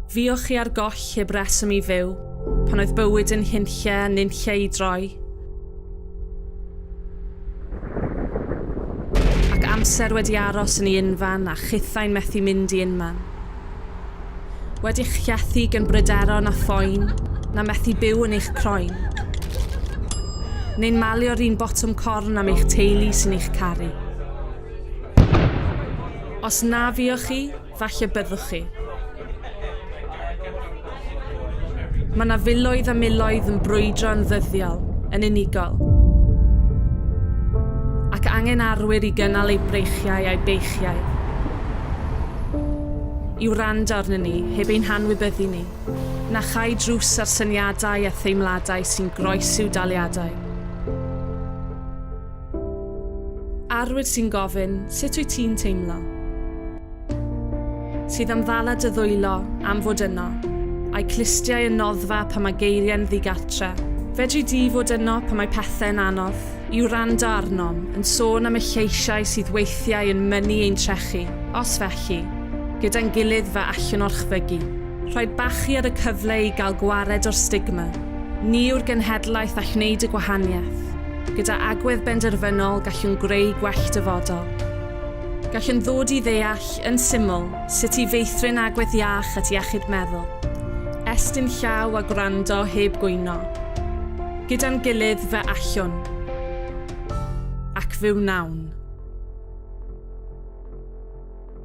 Fuoch chi ar goll heb reswm i fyw, pan oedd bywyd yn hunlle a nunlle i droi. Ac amser wedi aros yn ei unfan a chithau'n methu mynd i unman. Wedi'ch llethu gan bryderon a phoen na methu byw yn eich croen. Neu'n malio'r un botwm corn am eich teulu sy'n eich caru. Os na fuoch chi, falle byddwch chi. Mae yna filoedd a miloedd yn brwydro yn ddyddiol, yn unigol. Ac angen arwyr i gynnal eu breichiau a'u beichiau. I wrando arnyn ni, heb ein hanwybyddu ni, na chau drws ar syniadau a theimladau sy'n groesiw daliadau. Arwyr sy'n gofyn, sut wyt ti'n teimlo? Sydd am ddala dy ddwylo, am fod yno. A'i clustiau yn noddfa pan mae geiriau'n ddigartre. Fedri di fod yno pan mae pethau'n anodd? I wrando arnom, yn sôn am y lleisiau sydd weithiau yn mynnu ein trechu, os felly, gyda'n gilydd fe allwn orchfygu. Rhoi bachu ar y cyfle i gael gwared o'r stigma, ni yw'r genhedlaeth all wneud y gwahaniaeth. Gyda agwedd benderfynol gallwn greu gwell dyfodol. Gallwn ddod i ddeall, yn syml, sut i feithrin agwedd iach at iechyd meddwl. Estyn llaw a gwrando heb gwyno. Gyda'n gilydd fe allwn. Ac fe wnawn.